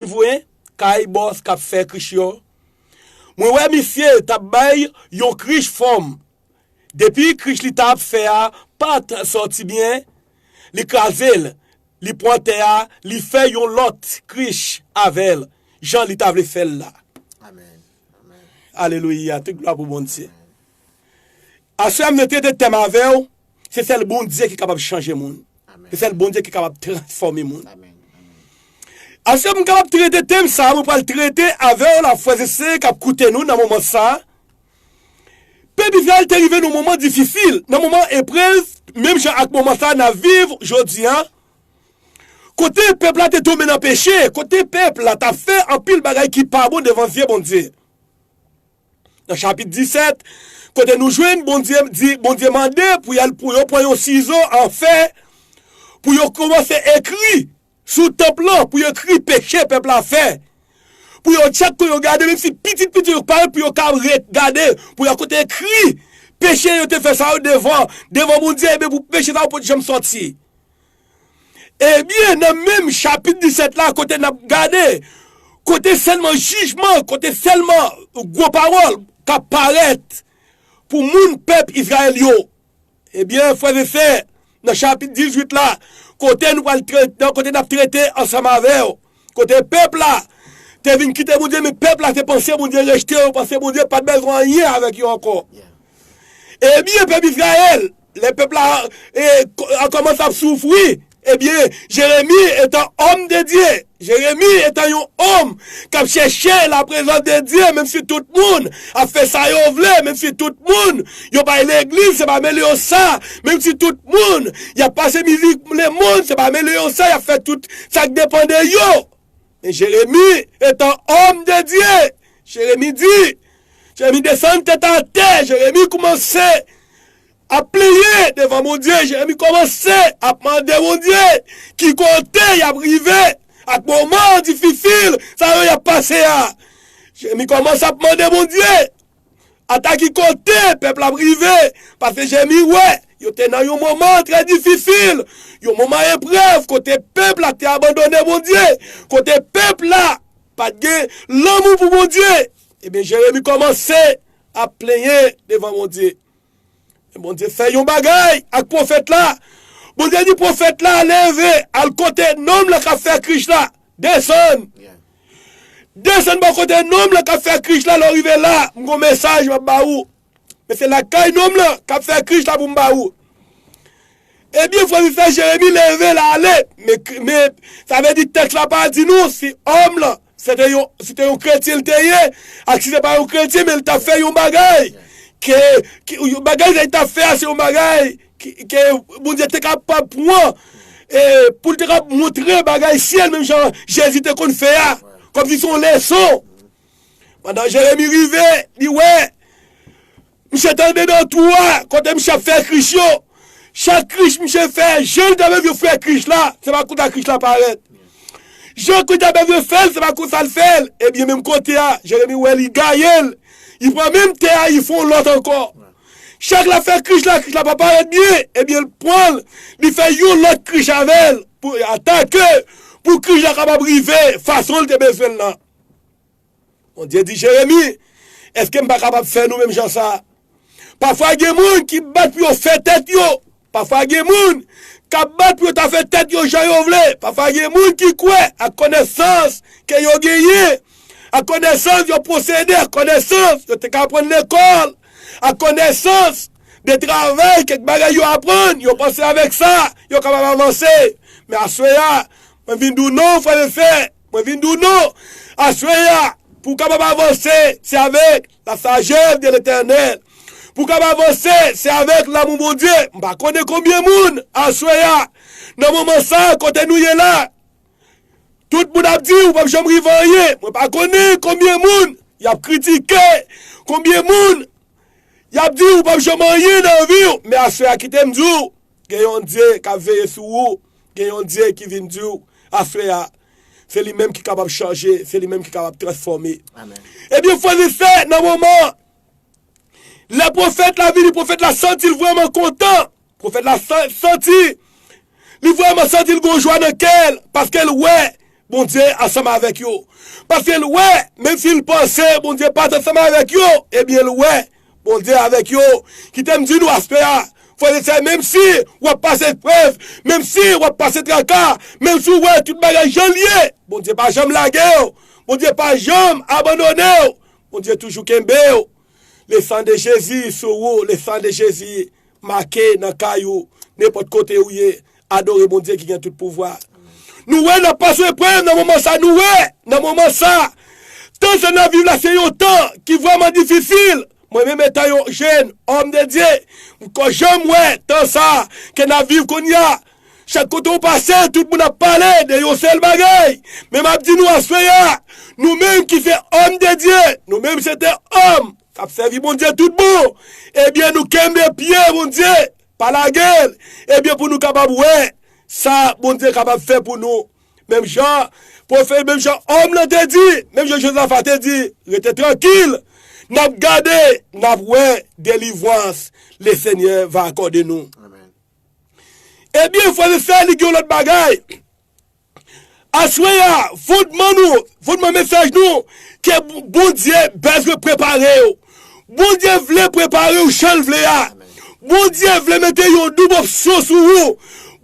vwe kay boss kap fè krich yo mwen wè misye tap bay yon krich fòm depi krich li tap fè a pat sòti byen li krazel li pwan tè a li fè yon lòt krich avèl jan li ta vle fèl la alelouya tout glwa pou Bondye. Aswè mwen te de tèm avèw, se sèl Bondye ki kapab chanje moun. Se sèl Bondye ki kapab transfòme moun. Aswè mwen kapab trete tèm sa, mwen pral trete avèw la frèz e sè kap koute nou nan moman sa. Pèp Izrayèl te rive nan moman difisil, nan moman eprèz, menm jan ak moman sa nap viv jodi a. Kote pèp la te tonbe nan peche, kote pèp la tap fè anpil bagay ki pa bon devan zye Bondye. Nan chapit 17, kote nou jwenn Bondye di, Bondye mande pou y al pou yo pran yon sizo an fè pou yo kòmanse ekri sou tanp lan, pou yo ekri peche pèp la fè, pou yo chak kote yo gade, menm si pitit pitit yo parèt pou yo ka gade, pou yo kote ekri peche yo te fè sa yo devan Bondye, ebyen pou peche sa yo pa t janm sòti. Ebyen nan menm chapit 17 la kote n ap gade, kote sèlman jijman, kote sèlman gwo pawòl k ap parèt pou moun pèp Izrayèl yo. Ebyen frè e sè, nan chapit 18 la, kote nou pral trete, kote n ap trete ansanm avè w, kote pèp la te vin kite Bondye men pèp la te panse Bondye rejte yo, panse Bondye pa t bezwen anyen avèk yo ankò. Ebyen pèp Izrayèl. Lè pèp la a kòmanse ap soufri, ebyen, Jeremi etan òm de Dye, Jeremi etan yon òm k ap chèche laprezans de Dye menm si tout moun ap fè sa yo vle, menm si tout moun yo pa ale legliz, se pa mele yo sa, menm si tout moun y ap pase mizik lemonn, se pa mele yo sa, y ap fè tout sa k depan de yo. Men Jeremi, etan òm de Dye, Jeremi di, Jeremi desann tèt atè, Jeremi koumanse ap plenyen devan Bondye, Jeremi kòmanse ap mande Bondye ki kote y ap rive ak moman dififil sa yo y ap pase a. Jeremi kòmanse ap mande Bondye. Ata ki kote pèp la ap rive, pase Jèmi wè, yo te nan yon moman trè difisil, yon moman eprèv kote pèp la te abandone Bondye, kote pèp la pa t gen lanmou pou Bondye. Ebyen Jeremi kòmanse ap plenyen devan Bondye. Men Bondye fè yon bagay ak pwofèt la. Bondye di pwofèt la, Leve, al kote nonm lan k ap fè krich la. Desann. Desann bò kote nonm lan k ap fè krich la. Lè w rive la, m gen yon mesaj m ap ba ou. Men se lakay nonm lan k ap fè krich la pou m ba ou. Ebyen frè m fè Jeremi leve l ale men sa vle di tèks la pa di nou si òm lan se te yon si te yon kretyen l te ye ak si se pa yon kretyen men l ta fè yon bagay ke bagay sa li ta fè a se yon bagay ke Bondye te kapab pran pou l te kapab montre bagay syèl menm jan Jezi te konn fè a kòmsi se yon leson pandan Jeremi rive li wè Misye tande nan twou a kote misye ap fè krich yo, chak krich misye fè jan li ta vle vye fè krich la se pa konsa krich la parèt. Jan krich la ta vle fèl se pa konsa l fèl, ebyen menm kote a Jeremi wè li gaye l, li pran menm tè a li fè yon lòt ankò. Chak lap fè krich la, krich la pa parèt byen, ebyen l pran l li fè yon lòt krich avè l pou atake pou krich la kapab rive fason l te bezwen l lan. Bondye di Jeremi, Èske m pa kapab fè nou menm jan sa a? Pafwa gen moun ki bat pou yo fè tèt yo, pafwa gen moun k ap bat pou yo ta fè tèt yo jan yo vle, pafwa gen moun ki kwè ak konesans ke yo genyen, ak konesans yo posede, ak konesans yo te ka aprann lekòl, ak konesans de travay kèk bagay yo aprann, yo panse avèk sa yo kapab avanse. Men aswè a, mwen vin di w, non, frè m e sè, Mwen vin di w non! Aswè a, pou w kapab avanse, se avèk lasajès de Letènèl. Pou w kab avanse, se avèk lamou Bondye. M pa konnen konbyen moun, aswè a, nan moman sa a, kote nou ye la, tout moun ap di ou pap janm rive anyen. Mwen pa konnen konbyen moun y ap kritike, konbyen moun y ap di ou pap janm anyen nan vi w. Men aswè a, kite m di w. Gen yon Dye k ap veye sou ou, gen yon Dye ki vin di w aswè a, se li menm ki kapab chanje, se li menm ki kapab transfòme. Ebyen frè e sè, nan moman an, lè pwofèt la vini, pwofèt la santi l vrèman kontan, pwofèt la santi, li vrèman santi l gen yon jwa nan kè l, paske l wè. Bondye ansanm avèk yo. Paske l wè, menmsi l panse Bondye pa t ansanm avèk yo, ebyen l wè, Bondye avèk yo. Kite m di nou aspè a, frè e sè, menmsi w ap pase eprèv, menmsi w ap pase traka, menmsi w wè tout bagay jan l ye, Bondye pa janm lage w, Bondye pa janm abandone w, Bondye toujou kenbe w. Le sang de Jezi sou ou, le sang de Jezi. Make nan kay ou, nenpòt kote ou ye, adore Bondye ki gen tout pouvwa. Nou wè nan pas we prèv nan moman sa nou wè nan moman sa tan sa nap viv la se yon tan ki vrèman difisil mwen menm etan yon jèn òm de Dye mko janm wè tan sa ke nap viv konnya chak kote ou pase tout moun ap pale de yon sèl bagay men map di nou aswè ya nou menm ki se òm de Dye nou menm se te òm Kap sèvi Bondye tout bon ebyen nou kenbe pye Bondye pa lagel ebyen pou nou kapab wè sa Bondye kapab fè pou nou menm jan pwofè menm jan òm lan te di menm jan Jozafa te di rete trankil nap gade nap wè delivwans le Senyè va akòde nou ebyen frèm e sè li gen yon lòt bagay Aswè a fondman nou, fondman mesaj nou, ke Bondye bezwen prepare w. Bondye vle prepare w jan l vle a. Bondye vle mete yon doub opsyon sou ou.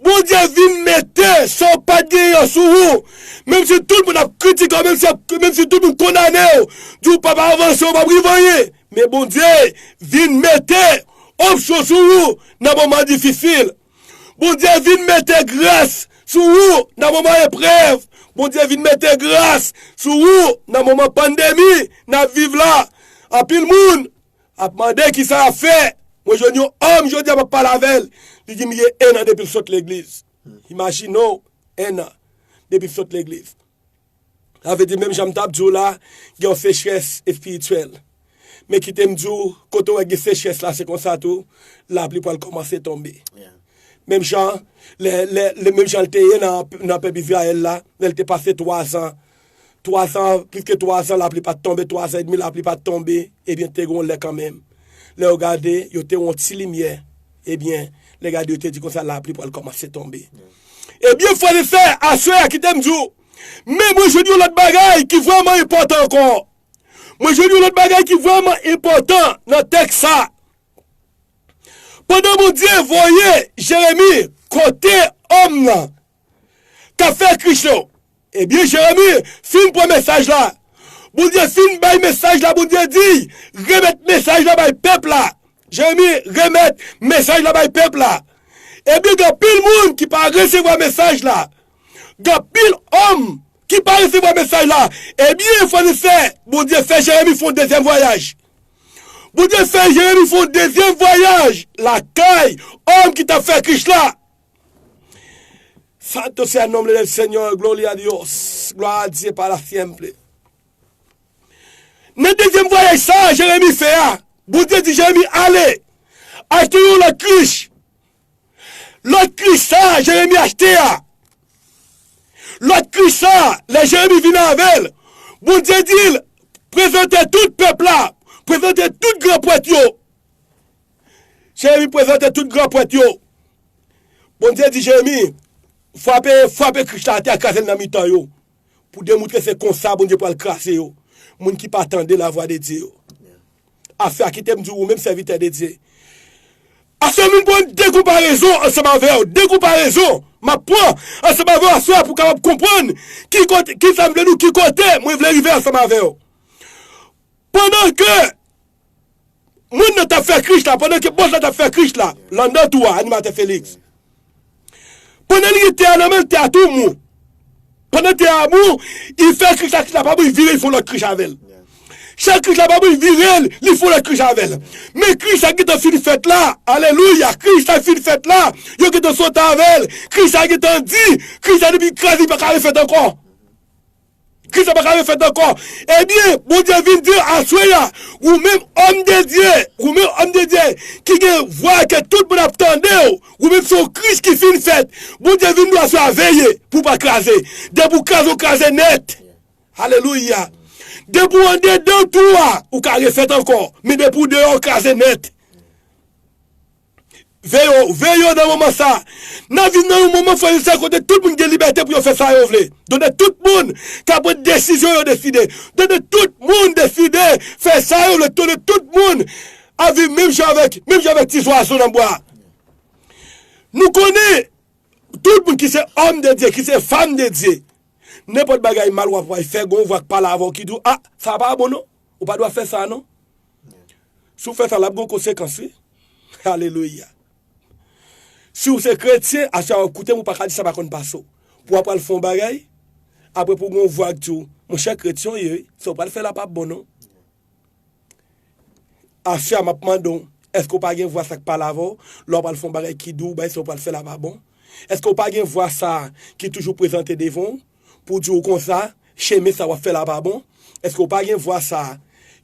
Bondye vin mete sa w pat genyen an sou ou. Menm si tout moun ap kritike w, menm si tout moun kondane w, di w pap avanse, ou pap rive anyen, men Bondye vin mete opsyon sou ou nan moman difisil. Bondye vin mete gras sou ou nan moman eprev, Bondye vin mete gras sou ou nan moman pandemi nap viv la, anpil moun ap mande kisa yap fè, mwen jwenn yon òm jodi a map pale avèl li dim li gen 1 an depil sot legliz, imajine w 1 an depil sot legliz. Sa vle di menm jan m t ap di w la, gen yon sechrès espirityèl. Men kite m di w, kote w wè gen sechrès la, se konsa tou lapli pral kòmanse tonbe. Menm jan menm jan l te ye nan pèp Izrayèl la, lè l te pase twazan, twazan, plis ke twazan lapli pa t tonbe, twazan edmi lapli pa t tonbe, ebyen te gen yon lè kanmenm, lè yo gade, yo te wè yon ti limyè. Ebyen, lè gad yo te di konsa, lapli pral kòmanse tonbe. Ebyen, frè e sè, aswè a kite m di w, men mwen jwenn yon lòt bagay ki vrèman enpòtan ankò. Mwen jwenn yon lòt bagay ki vrèman enpòtan nan tèks sa a. Pandan Bondye voye Jeremi kote òm nan. kap fè kri cho. Ebyen Jeremi fin pran mesaj la, Bondye fin bay mesaj la Bondye di remèt mesaj la bay pèp la Jeremi remèt mesaj la bay pèp la Ebyen gen anpil moun ki pa resevwa mesaj la Gen anpil òm ki pa resevwa mesaj la Ebyen frè n sè Bondye fè Jeremi fon dezyèm vwayaj Bondye fè Jeremi fon dezyèm vwayaj lakay òm ki tap fè krich la Santo sea nombre del Señor, gloria a Dios, glwa a Dye pa la siempre. Nan dezyèm vwayaj sa a Jeremi fè a, Bondye di Jeremi ale, achte yon lòt krich. Lòt krich sa a Jeremi achte a, lòt krich sa a, lè Jeremi vin avè l, Bondye di l, prezante tout pèp la, prezante tout gran prèt yo. Jeremi prezante tout gran prèt yo. Bondye di Jeremi, Frape, frape krich la atè a, kraze l nan mitan yo, pou demoutre se konsa Bondye pral kraze yo, moun ki pa tande lavwa de Dye yo. Afè a, kite m di w ou menm sèvitè de Dye, aswè vin pran de konparezon ansanm avè w, de konparezon m ap pran ansanm avè w aswè a pou w kapab konprann ki kote, ki sa m vle di w, ki kote mwen vle rive ansanm avè w. Pandan ke. Moun nan tap fè krich la pandan ke bòs la tap fè krich la landan tou a animatè Felix pandan li gen te a nan menl te a tou mou pandan te a mou li fè krich la krich la pa mou li vire li fon lòt krich avèl chak krich la pa mou li virel li fon lòt krich avèl men krich sa gentan fin fèt la alelouya krich sa fin fèt la yo gentan sot avèl krich sa gentan di krich sa depi kraze li paka refèt ankò. Kisa pa ka refèt ankò? Ebyen, Bondye vin di l, Aswè a, ou menm òm de Dye, ou menm òm de Dye ki gen vwa ke tout moun ap tande w, ou menm se yon Kris ki fin fèt. Bondye vin di w aswè a, Veye pou w pa kraze. Depi w kraze, w kraze nèt. Alelouya! Depi w andedan twou a, ou ka refèt ankò, men depi w deyò, w kraze nèt. Veyo, veyo nan moman sa a. N ap viv nan yon moman frè e sè kote tout moun gen libète pou yo fè sa yo vle. Donk tout moun ka pran desizyon yo deside. Donk tout moun deside fè sa yo vle. Donk tout moun ap viv menm jan avèk, menm jan avèk ti zwazo nan bwa a. Nou konnen tout moun ki se òm de Dye, ki se fanm de Dye, nenpòt bagay mal w ap wè, fè gen yon vwa k pale avè w ki di w, a, sa pa bon non. Ou pa dwa fè sa non. Si w fè sa, l ap gen yon konsekans wi. Alelouya! Si w se kretyen, aswè a w ap koute m, ou pa ka di sa pa konn pase w. Pou w ap pral fè yon bagay, apre pou w gen yon vwa k di w, monchè kretyen w ye wi, sa w pral fè la pa bon non. Aswè a m ap mande w, èske w pa gen vwa sa k pale avè w, lè w pral fè yon bagay ki di w, bagay sa w pral fè la pa bon? Èske w pa gen vwa sa a ki toujou prezante devan w? Pou di w konsa, chemen sa wap fè la pa bon, eske w pa gen vwa sa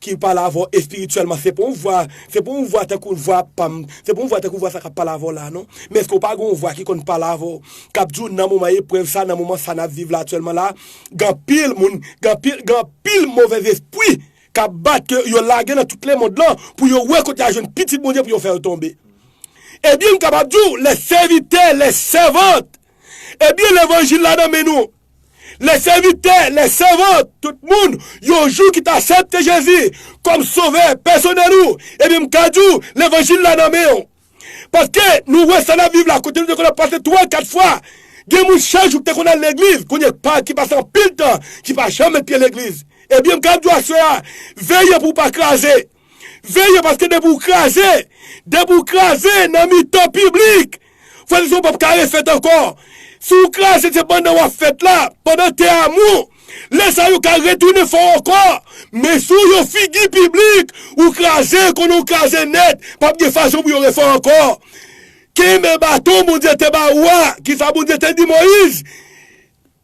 ki pale avè w espirityèlman, se pa yon vwa, se pa yon vwa tankou vwa pa m, se pa yon vwa tankou vwa sa kap pale avè w la non, men eske w pa gen yon vwa ki konn pale avè w, kap di w nan moman eprèv sa, nan moman sa nap viv la aktyèlman la, gen anpil moun, gen anpil, gen anpil movèzespri kap bat ke yo lage nan tout lemond lan pou yo wè kote ya jwenn pitit Bondye pou yo fè yo tonbe. Ebyen m kapab di w, les servitè, les sèvantes, Ebyen levanjil la nan men nou. Lè sèvitè, lè sèvant, tout moun, yon jou ki t asepte Jezi kòm sovè pèsonèl ou, ebyen m ka di w levanjil la nan men w. Paske nou wè sa n ap viv la kote nou te konn ap pase 3, 4 fwa. Gen moun chak jou ki te konn al legliz kounye pa ki pase anpil tan ki pa janm met pye legliz. Ebyen m ka ap di w aswè a, veye pou w pa kraze. Veye paske depi w kraze, depi w kraze nan mitan piblik, frè e sè w pap ka refèt ankò. Si w kraze se pandan w ap fèt la, pandan te amou, lè sa yo ka retounen fè w ankò, men si w yon figi piblik, ou kraze, konnen w kraze nèt, pap gen fason pou yo refè w ankò. Kenbe baton Bondye te ba ou a, kisa Bondye te di Moyiz?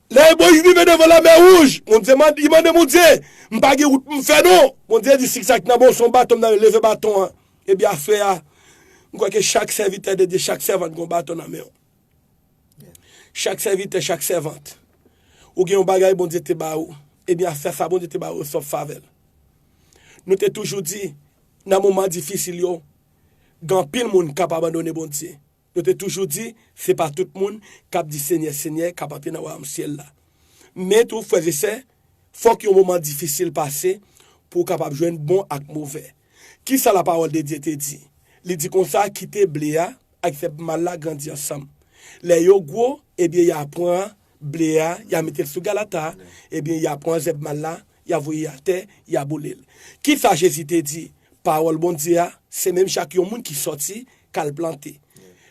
Lè Moyiz rive devan Lanmè Wouj, Bondye mande, li mande Bondye, M pa gen wout pou m fè non. Bondye di, Sik sa ki nan men w se yon baton m nan men, leve baton an. Ebyen afè a, m kwè ke chak sèvitè de Dye, chak sèvant gen yon baton nan men yo. Chak sèvitè, chak sèvant, ou gen yon bagay Bondye te ba ou, ebyen afè sa Bondye te ba ou yo se yon favè. Nou te toujou di, nan moman difisil yo, gen anpil moun k ap abandone Bondye. Yo te toujou di, Se pa tout moun k ap di Senyè, Senyè, k ap antre nan wayòm syèl la. Men tou, frèzesè, fòk yon moman difisil pase pou w kapab jwenn bon ak move. Ki sa Lapawòldedye te di? Li di konsa, Kite ble a ak zèb mal la grandi ansanm. Lè yo gwo, ebyen y a pran ble a, y a mete l sou galata, ebyen y a pran zèb mal la, y a voye atè, y a boule l. Ki sa Jezi te di? Pawòl Bondye a se menm jan ak yon moun ki soti, k al plante.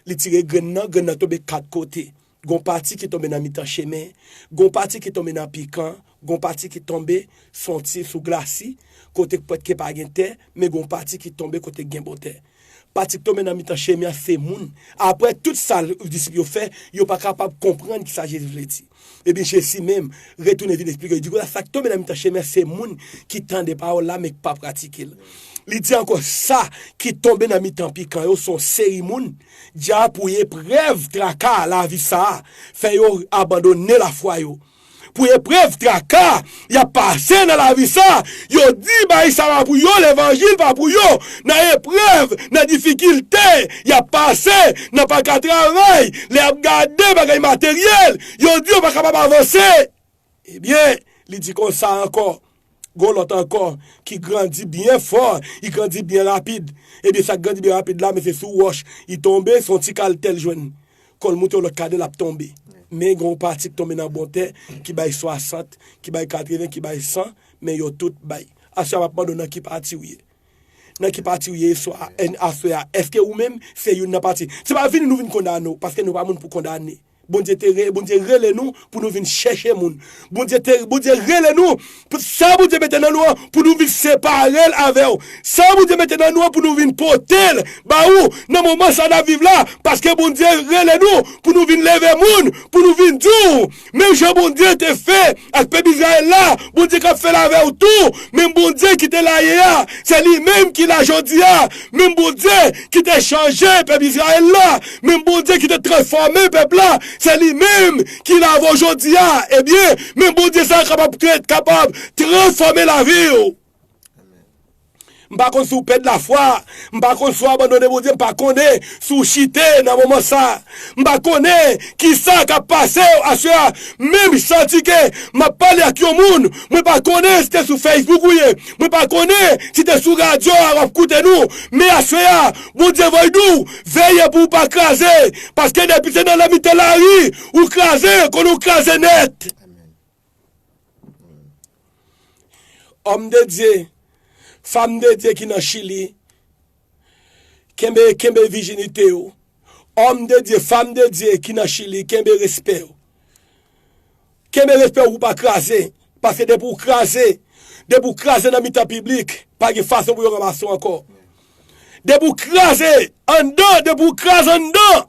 Li tire grenn nan, grenn nan tonbe kat kote. Gon pati ki tonbe nan mitan chemen, gon pati ki tonbe nan pikan, gon pati ki tonbe sou yon ti sou glasi, kote k pwèt ke pa gen tè, men gon pati ki tonbe kote k gen bon tè. Patrick tonbe nan mitan chemen an se moun aprè tout sa l disip yo fè yo pa kapab konprann kisa Jezi vle di. Ebyen Jezi menm retounen vin esplike yo di konsa sa k tonbe nan mitan chemen an se moun ki tande pawòl la men k pa pratike l. Li di ankò sa ki tonbe nan mitan pikan yo se yon seri moun dyapiye eprèv traka lavi sa a fè yo abandone lafwa yo. Pou eprèv, traka, y ap pase nan lavi sa, yo di bay sa pa pou yo, levanjil pa pou yo. Nan eprèv, nan difikilte, y ap pase, nan pa ka travay, lè y ap gade bagay materyèl, yo di yo pa kapab avanse. Ebyen, li di konsa ankò, Gon lòt ankò ki grandi byen fò, li grandi byen rapid. Ebyen sa k grandi byen rapid la men se sou wòch li tonbe, son ti kal tè l jwenn. Kò l moute yon lòt kade l ap tonbe. Men gen yon pati ki tonbe nan bon tè ki bay 60, ki bay 80, ki bay 100, men yo tout bay. Aswè a m ap mande w nan ki pati ou ye? Nan ki pati ou ye aswè a? Èske ou menm se youn nan pati? Se pa vini nou vin kondane w, paske nou pa moun pou kondane. Bondye te re, Bondye rele nou pou nou vin chèche moun. Bondye te, Bondye rele nou pou sa Bondye mete nan nou an pou nou vin separe l avè w. Sa Bondye mete nan nou an pou nou vin pote l ba ou nan moman sa n ap viv la. Paske Bondye rele nou pou nou vin leve moun, pou nou vin di w, menm jan Bondye te fè ak pèp Izrayèl la, Bondye k ap fè l avè w tou. Menm Bondye ki te la yè a, se li menm ki la jodi a. Menm Bondye ki te chanje pèp Izrayèl la, menm Bondye ki te transfòme pèp la, se li menm ki la avè w jodi a. Ebyen, menm Bondye sa a kapab kapab transfòme lavi w. M pa konn si w pèd lafwa, m pa konn si w abandone Bondye, m pa konnen si w chite nan moman sa a. M pa konnen kisa k ap pase w aswè a, menm santi ke m ap pale ak yon moun mwen pa konnen si te sou Facebook ou ye, mwen pa konnen si te sou radyo a w ap koute nou, men aswè a Bondye voy di w veye pou w pa kraze, paske depi se nan nan mitan lari ou kraze konnen w kraze nèt. Òm de Dye, Fam de Dye ki nan Chili, kenbe, kenbe vijinite ou. Òm de Dye, Fam de Dye ki nan Chili, kenbe respè ou. Kenbe respè ou pou pa kraze, paske depi ou kraze, depi ou kraze nan mitan piblik, pa gen fason pou yo ranmase ou ankò. Depi ou kraze anndan, depi ou kraze anndan,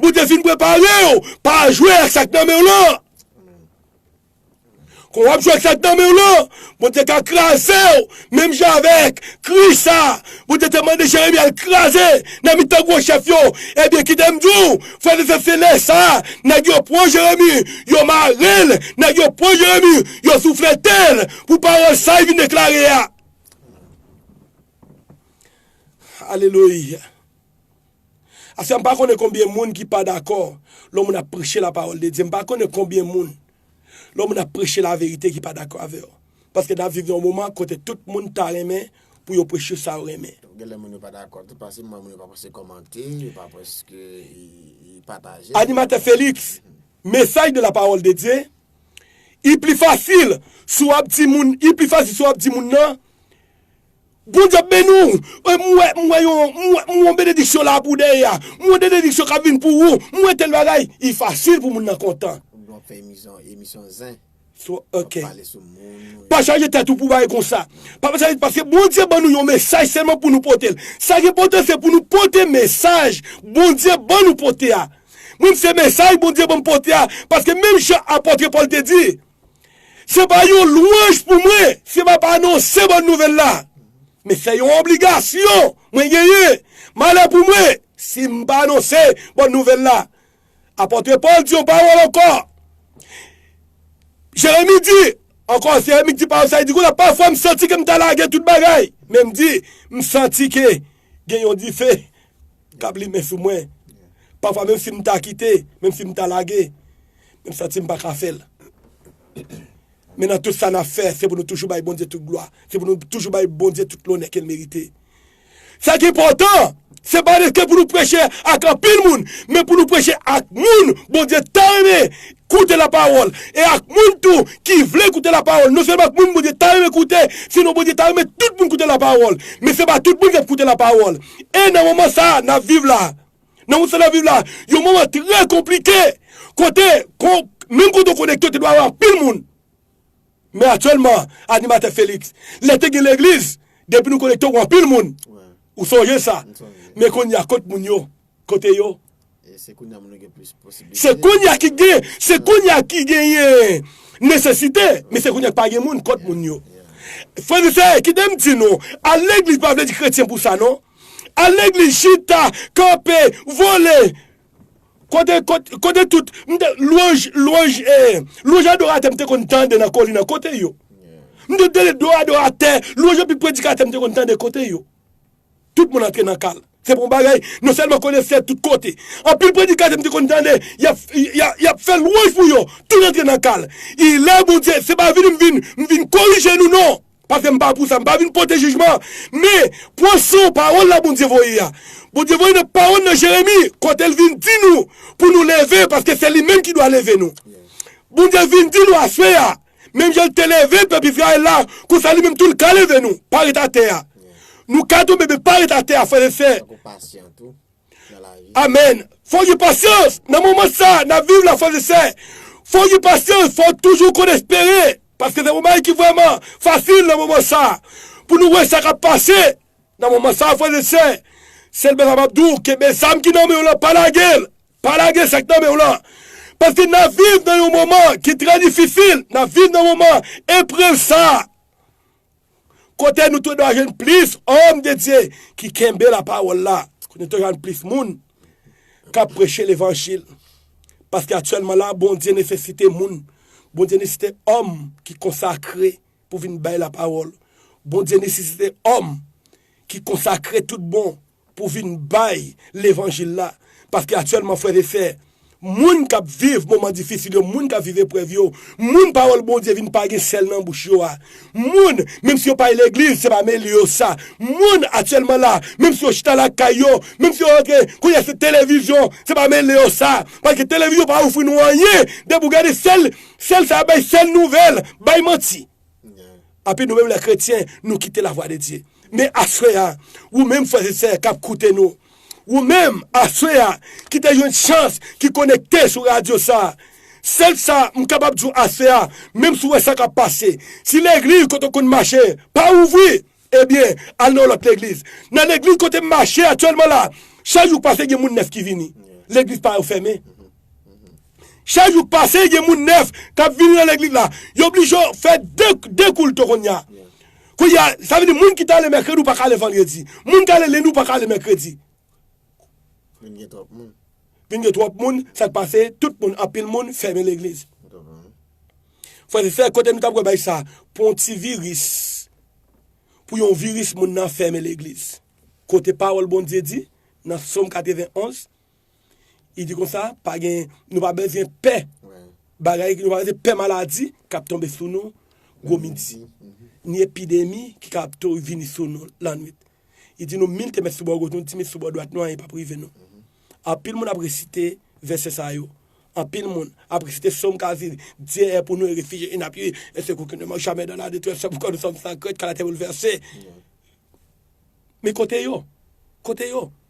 Bondye fin preparew pa jwe ak sak nan menw lan. Kon wap jwe ak sak nan menw lan, Bondye ka krazew menm jan avèk Kris sa Bondye te mande Jeremi al kraze nan mitan gwo chèf yo. Ebyen kitem diw frèm e sèm se lè sa nèg yo pran Jeremi yo marel nèg yo pran Jeremi yo soufletel pou pawòl sa li vin deklare a. Alelouya. Ase m pa konnen konbyen moun ki pa dakò lè yon moun ap preche la pawòl de Dye, m pa konnen konbyen moun lè yon moun ap preche la verite ki pa dakò avè yo. Paske nap viv nan yon moman kote tout moun ta renmen pou yo preche sa yo renmen. Genlè moun yo pa dakò tou paske moun yo pa prese kòmante, yo pa prese pataje. Animatè Felix, Mesaj de la pawòl de Dye, I pli fasil si w ap di moun, i pli fasil si w ap di moun nan, Bondye ap beni w wi m wè m wè yon m wè m wè yon benediksyon la pou dèyè a m wè denediksyon kap vin pou ou m wè tèl bagay i fasil pou moun nan kontan. Pa chaje tèt ou pou bagay konsa pa pa chaje paske Bondye ban nou yon mesaj sèlman pou nou pote l sa ki enpòtan se pou nou pote mesaj Bondye ban nou pote a mwen m se mesaj Bondye ban m pote a paske menm jan apòtre Pòl te di Se pa yon lwanj pou mwen si m ap anonse bòn nouvèl la, men se yon obligasyon mwen genyen. Malè pou mwen si m pa anonse bòn nouvèl la! Apòtre Pòl di yon pawòl ankò. Jeremi di, ankò Jeremi di pawòl sa, li di konsa, Pafwa m santi ke m ta lage tout bagay, men m di, m santi ke gen yon dife k ap limen sou mwen. Pafwa menm si m ta kite, menm si m ta lage, Menm santi m pa ka fè l. Men nan tout sa n ap fè, se pou nou toujou bay Bondye tout glwa. Se pou nou toujou bay Bondye tout lonè ke l merite. Sa ki enpòtan, se pa rete pou nou preche ak anpil moun, men pou nou preche ak moun Bondye ta renmen koute lapawòl e ak moun tou ki vle koute lapawòl. Non sèlman ak moun Bondye ta renmen koute, sinon Bondye ta renmen tout moun koute lapawòl. Men se pa tout moun k ap koute lapawòl. E nan moman sa a n ap viv la a, Nan moun sa nap viv la, yon moman trè konplike, kote kon menm kote w konekte w te dwe avè anpil moun. Men aktyèlman, animatè Félix, lè te gen legliz, depi nou konekte w anpil moun. Ou sonje sa. Men kounya kot moun yo? Kote yo? Se kounya moun yo gen plis posibilite. Se kounya ki gen, se kounya ki genyen nesesite, men se kounya ki pa gen moun, kot moun yo? Frè m e sè, kite m di nou, al legliz pa vle di kretyen pou sa non. Al legliz chita kanpe vole kote kote tout lwanj lwanj lwanj adoratè m te konn tande nan kolina kote yo m te tande do adoratè lwanj anpil predikatè m te konn tande kote yo tout moun antre nan kal se pa yon bagay non sèlman konesè tout kote anpil predikatè m te konn tande yap yap fè lwanj pou yo tout antre nan kal ilè Bondye se pa vini m vin m vin korije nou non. Paske m pa pou sa, m pa vin pote jijman, men, pwason, pawòl la Bondye voye a. Bondye voye nan pawòl nan Jeremi, kote l vin di nou pou nou leve, paske se li menm ki dwa leve nou. Bondye vin di nou aswè a, menm jan l te leve pèp Izrayèl la, konsa li menm tou l ka leve nou, pa ret atè a. Nou ka tonbe men pa ret atè a, frè e sè. nan lavi. Amen! Fòk gen pasyans nan moman sa nap viv la frèz e sè, fòk gen pasyans fòw toujou konn espere paske se yon bagay ki vrèman fasil nan moman sa pou nou wè sa kap pase nan moman sa frèz e sè sèl bagay map di w kenbe zam ki nan menw lan pa lagel pa lage sak nan menw lan paske nap viv nan yon moman ki trè difisil nap viv nan moman eprèv sa. Kote nou te dwa jwenn plis òm de Dye ki kenbe lapawòl la, kote nou te jwenn plis moun k ap preche levanjil. Paske aktyèlman la, Bondye nesesite moun, Bondye nesesite òm ki konsakre pou vin bay lapawòl, Bondye nesesite òm ki konsakre tout bon. pou vin bay levanjil la paske aktyèlman frè e sè moun kap viv moman difisil yo moun kap viv eprèv yo moun pawòl Bondye vin pa gen sèl nan bouch yo a moun menm si yo pa al legliz se pa mele yo sa moun aktyèlman la menm si yo chita lakay yo menm si yo rantre kounye a se televizyon se pa mele yo sa paske televizyon pa ofri nou anyen depi ou gade sèl sèl sa bay sèl nouvèl bay manti. Api nou menm lè kretyen nou kite la vwa de Dye. Men aswè a, ou menm frè e sè kap koute nou, ou menm aswè a ki te jwenn chans ki konekte sou radyo sa, sèl sa m kapab di w aswè a, menm si w wè sa kap pase, si legliz kote w konn mache pa ouvri, Ebyen, al nan yon lòt legliz. Nan legliz kote m mache aktyèlman la, chak jou k pase gen moun nèf ki vini. Legliz pa yo fèmen. Chak jou k pase gen moun nèf k ap vini nan legliz la. Yo oblije fè de, de koulto kounye a. Kounye a, sa vle di moun ki t ale mèkredi ou pa ka ale vandredi. Moun k ale lendi ou pa ka ale mèkredi. Vin gen twòp moun. Vin gen twòp moun, sa k pase, tout moun, anpil moun fèmen legliz. Frè e sè, kote nou ta pral bay sa, pou yon ti viris, pou yon viris moun nan fèmen legliz. Kote pawòl Bondye di nan Som 91, li di konsa, pa gen, nou pa bezwen pè bagay, nou pa bezwen pè maladi k ap tonbe sou nou gwo midi, ni epidemi ki ka ap vini sou nou lannwit. Li di nou, Mil te met sou bò goch nou, ti mil sou bò dwat nou, anyen pap rive nou. Anpil moun ap resite vèsè sa yo. Anpil moun ap resite som k a di, Dye è pou nou e refij e n apiye, e sekou ki nou demann jamè dan la detrès fè pou kò nou sòm san krent kan latè boulvèse. Men kote yo? Kote yo?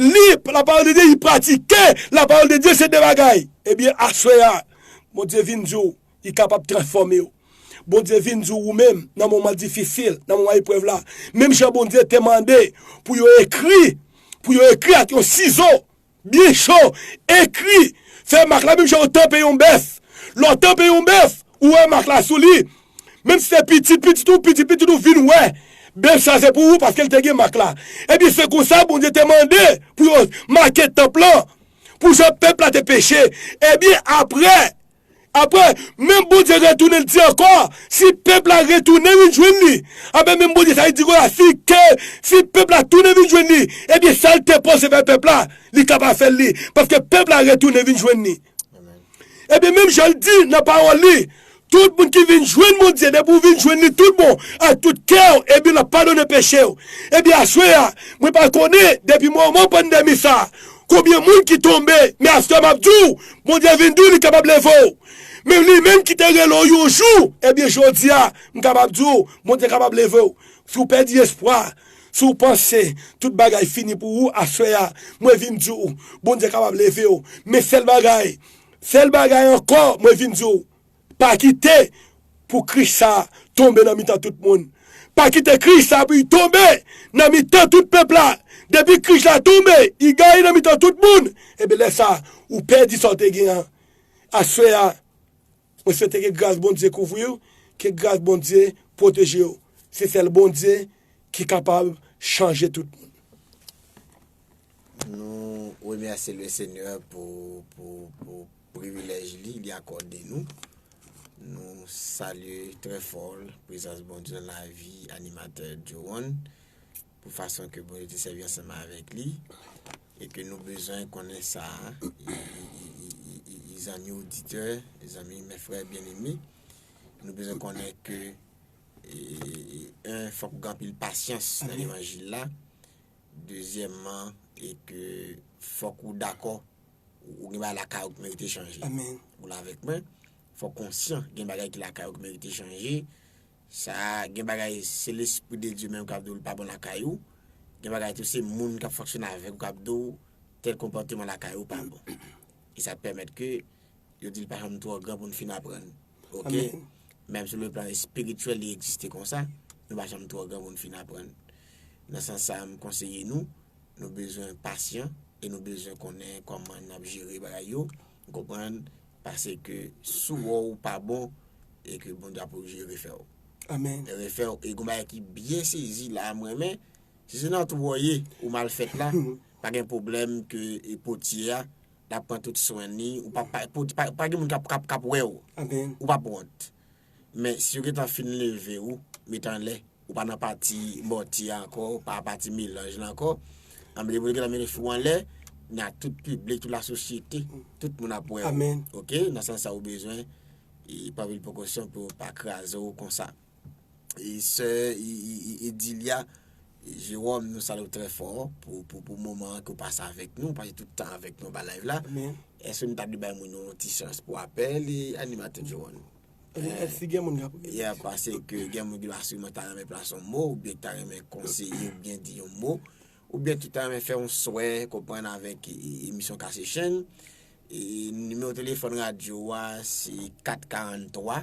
Li lapawòl de Dye, li pratike lapawòl de Dye se de bagay. Ebyen aswè a Bondye vin di w li kapab transfòme w. Bondye vin di w ou menm nan moman difisil, nan moman eprèv la, menm jan Bondye te mande pou yo ekri, pou yo ekri ak yon sizo byen cho, ekri, fè mak la menm jan yo tanpe yon bèf. Lè w tanpe yon bèf, ou wè mak la sou li, Menm si se pitit pitit ou, pitit pitit ou vin wè bèf sa se pou ou paske l te gen mak la. Ebyen, se konsa Bondye te mande pou yo make tanp lan pou jan pèp la te peche. Ebyen, apre, apre, menm Bondye retounen l di ankò, si pèp la retounen vin jwenn li, apre menm Bondye sa a li di ankò la, si ke, si pèp la tounen vin jwenn li, ebyen sa l te panse fè pèp la, li kapab fè l li, paske pèp la retounen vin jwenn li. Ebyen menm jan l di nan pawòl li, tout moun ki vin jwenn Bondye, depi ou vin jwenn li tout bon ak tout kè w, ebyen l ap padone peche w. Ebyen aswè a, mwen pa konnen depi moman pandemi sa a, konbyen moun ki tonbe, men aswè m ap di w, Bondye vin di w li kapab leve w. Menm li menm ki te rele w yon jou, ebyen jodi a, m kapab di w, Bondye kapab leve w. Si w pèdi espwa, Si w panse tout bagay fini pou ou aswè a, mwen vin di w, Bondye kapab leve w. Men sèl bagay, sèl bagay ankò mwen vin di w, pa kite pou Kris sa a tonbe nan mitan tout moun. Pa kite Kris sa a pou i tonbe nan mitan tout pèp la. Depi Kris la tonbe, i gaye nan mitan tout moun, enben lè sa a, ou pèdi sa w te gen an. Aswè a. Mwen swete ke gras Bondye kouvriw, ke gras Bondye pwotejew. Se sèl Bondye ki kapab chanje tout moun. Nou remèsye le Senyè pou privilèj li, li akòde nou. Nou salye trè fò prezans Bondye nan lavi animatè Joe One. pou fason ke Bondye te sèvi ansanm avèk li, e ke nou bezwen konnen sa a, e zanmi oditè, e zanmi mè frè byeneme, nou bezwen konnen ke, e, en, fòk ou gen anpil pasyans nan levanjil la, dezyèmman, e ke fòk ou dakò, ou gen bagay lakay ou ki merite chanje. Amen. Ou la avèk mwen? Fòk konsyan gen bagay ki lakay ou ki merite chanje, Sa gen bagay se lespri de Dye menm kap di w li pa bon lakay ou, gen bagay tou se moun kap fonksyone avèk ou kap di w tèl konpòteman lakay ou pa bon. E sa pèmèt ke yo di li pa janm twò gran pou n fin aprann. Ok, menm sou le plan espirityèl li egziste konsa, nou pa janm twò gran pou n fin aprann. Nan sans sa a m konseye nou, nou bezwen pasyan e nou bezwen konnen kòman nap jere bagay yo. Ou konprann? Pase ke sou wè ou pa bon e ke Bondye ap oblije refè ou. Amen. Refè ou. E gon bagay ki byen sezi la m renmen. Si se nan twou ou ye, ou mal fèt la, pa gen pwoblèm ke e potye a l ap pran tout swen li. Ou pa pa, pa gen moun k ap wè ou. Amen. Ou p ap wont. Men si yo gentan fin leve ou met anlè ou pa nan pati mòti a ankò ou pa pati melanj lan ankò anben depi yo gentan mete fè w anlè nan tout piblik tout la sosyete tout moun ap wè w ok nan sans sa ou bezwen pran anpil prekosyon pou yo pa kraze w konsa e sè Edilia Jérôme nou salyew trè fò pou moman an ke w pase avèk nou, pase tout tan avèk nou anba live la. Èske nou ta dwe bay moun yo yon ti chans pou apèl e animatè Jérôme? Si gen moun kap. Yeah pase ke gen moun ki la siman ta renmen plase yon mo oubyen ki ta renmen konseye oubyen di yon mo oubyen ki ta renmen fè yon swè konprann avèk emisyon Kase Chenn. Nimewo telefòn radyo a se 443.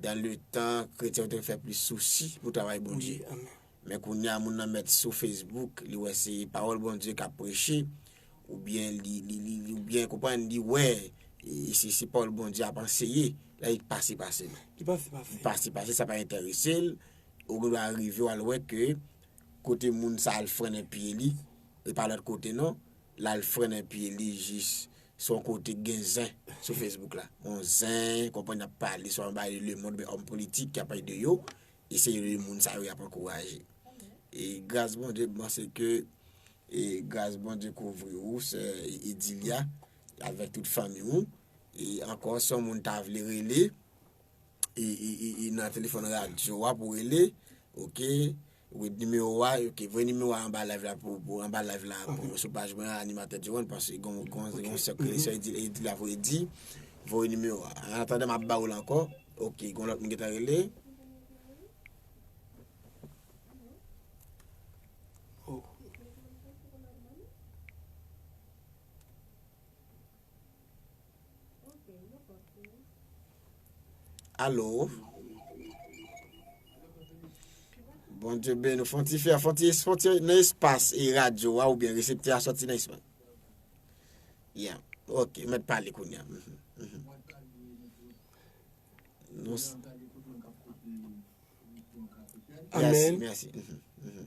Dan le tan kretyen yo te fè plis sousi pou travay Bondye. Men kounye a moun nan mèt sou Facebook li wè se pawòl Bondye kap preche oubyen li konprann li wè se pawòl Bondye ap anseye la li pase pase l. Li pase pase l sa pa enterese l ou gen dwa rive wal wè ke kote moun sa al frennen pye li e pa lòt kote non lal frennen pye li jis Se yon kote ki gen zen sou Facebook la. Yon zen, konprann y ap pale swa anba de lemond oubyen òm politik ki ap pale de yo, e se de moun sa yo y ap ankouraje. E gras Bondye, m panse ke e gras Bondye kouvri ou sè Edilia avèk tout fanmi ou. E ankò si yon moun ta vle rele, e nan telefòn radyo a pou rele, ok. With nimewo wa ok voye nimewo wa anba live la pou pou anba live la pou sou paj mwen animatè Djewon paske gon gon gon sèk li sè di li la voye di voye nimewo wa an atanda map ba ou l ankò ok gon lòt moun ki ta rele Alo. Bon Dieu ben nou fonti fè, fonti fonti nan espas e radyo a ou ben reseptè a soti nan espas. Yeah, ok, mèt pale koun ya. Mm -hmm. Mm -hmm. Nou... Amen. Merci, merci. Mm -hmm. Mm -hmm.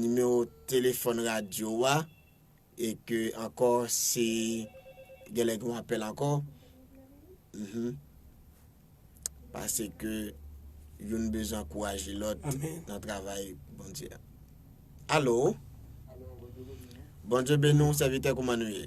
Nimewo telefòn radyo ou a e ke ankò si gen lè gen yon apèl ankò mph pase ke youn bezwen ankouraje lòt nan travay Bondye a Alo Bondye beni w sèvitè kouman nou ye?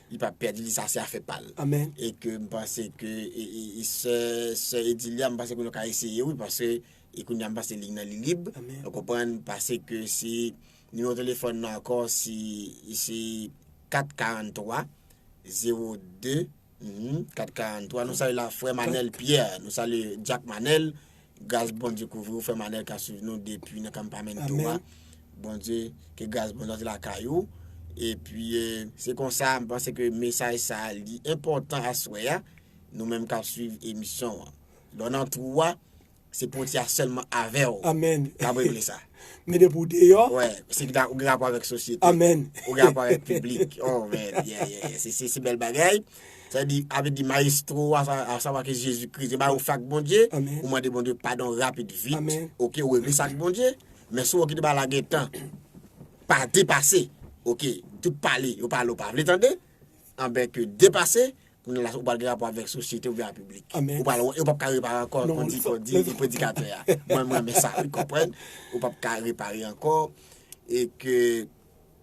Li pap pèdi li sa se afè pal. Amen. E ke m panse ke sè sè Edilia m panse ke nou ka eseye wi paske e kounya m panse ligne nan li lib. Amen. Ou konprann pase ke si nimewo telefòn nan ankò si si 443 02 hum 443 nou salye la frè Manel Pierre nou salye Jack Manel Gras Bondye kouvri ou frèm Anelka swiv nou depi nan kanpamento a Bondye ke gras Bondye antre lakay ou epi se konsa m panse ke mesaj sa li enpòtan aswè a nou menm kap swiv emisyon an lò nan twou a se poti a sèlman avèw kap regle sa men depi ou deyò wè se ou gen rapò avèk sosyete ou gen rapò avèk piblik oh men se bèl bagay. Sa di, a vle di maestro a a savwa ki se Jezi Kris se bay ou fè ak Bondye, ou mande Bondye padon rapid vit ok ou regle sa ak Bondye, men si ou wè ki te bay la gen tan pa depase ok tout pale yo pale ou pa vle tande anben ke depase kounye la ou pral gen rapò avèk sosyete oubyen a piblik ou pral wè yo pap ka repare ankò kon di kon di predikatè a mwen m renmen sa wi konprann ou pap ka repare ankò e ke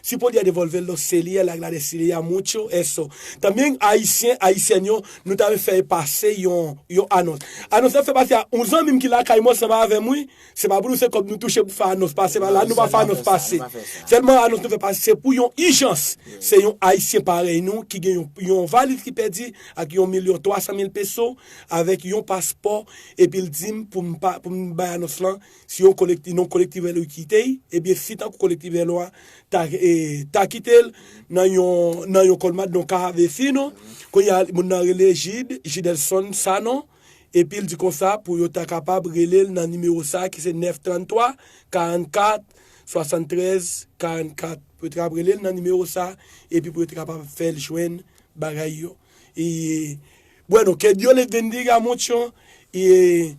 Si podya devolvel non selier la gladys liye a mucho eso tambien ayisyen ayisyèn yo nou ta fè e pase yon yon anons anons la fè pase a yon zanmim ki lakay mwen sanba avèm wi se pa pou nou se kòb nou touche pou fè anons pase pa la nou pa fè anons pase sèlman anons nou fè pase se pou yon ijans se yon ayisyen parèy nou ki gen yon valiz ki pèdi ak yon milyon twa san mil peso avèk yon paspò epil dim poum pa poum bay anons lan Si yon kolekti non kolektif èlo ki kite y, ebyen fi tankou kolektif èlo a ta ta kite l nan yon nan yon kolmad non ka ave fi non. Kounye a moun nan rele Jid, Jidelson Sanon, epi l di konsa pou yo ta kapab rele l nan nimewo sa a ki se 9 33 44 73 44. Pou yo te kapab rele l nan nimewo sa a epi pou yo te kapab fè l jwenn bagay yo. E bwè non, que Dios les bendiga mucho e.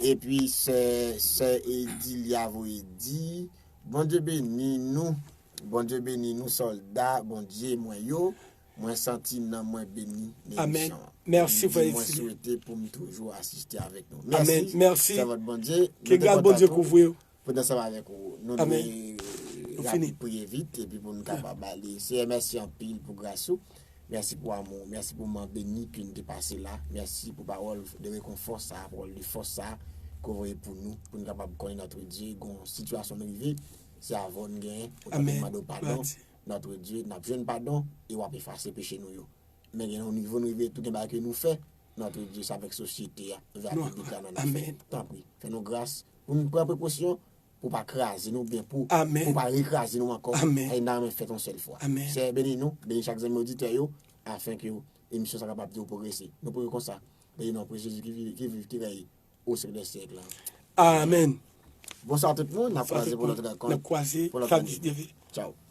Epi sè sè edilia voye di bondye beni nou bondye beni nou solda bondye mwen yo mwen santi nanm mwen beni nan emisyon li di mwen swete poum toujou asiste avèk nou mèsi sèvant bondye nou te kontan tou Poun ansanm avèk ou nou dwe rapid priye vit epi pou nou kapab ale. Seyè mèsi anpil pou gras ou, mèsi pou amou ou, mèsi pou moman beni ke nou te pase la, mèsi pou pawòl de rekonfò sa, pawòl de fòs sa ke ou voye pou nou, pou nou kapab konnen notre Dieu gon sitiyasyon nou rive se avè w nou genyen, ou ta dwe mande w padon, notre Dieu nap jwenn padon e wap efase peche nou yo. Men gen yon nivo nou rive tou gen bagay ke nou fè notre Dieu se avèk sosyete a, vè ak piblik la nou ap fè, tanpri fè nou gras. pou n pran prekosyon pou pa kraze nou oubyen pou pou pa rekraze nou ankò e nan men fèt yon sèl fwa. Seyè beni nou, beni chak zanmi oditè yo afin ke emisyon sa kapab toujou pwogrese. Nou priye konsa nan le non prè Jezi ki viv ki rèy o syèk dè syèk la. Amen. Bonswa tout moun, n ap kwaze pou lòt rankont pou lòt ane. Tchaw.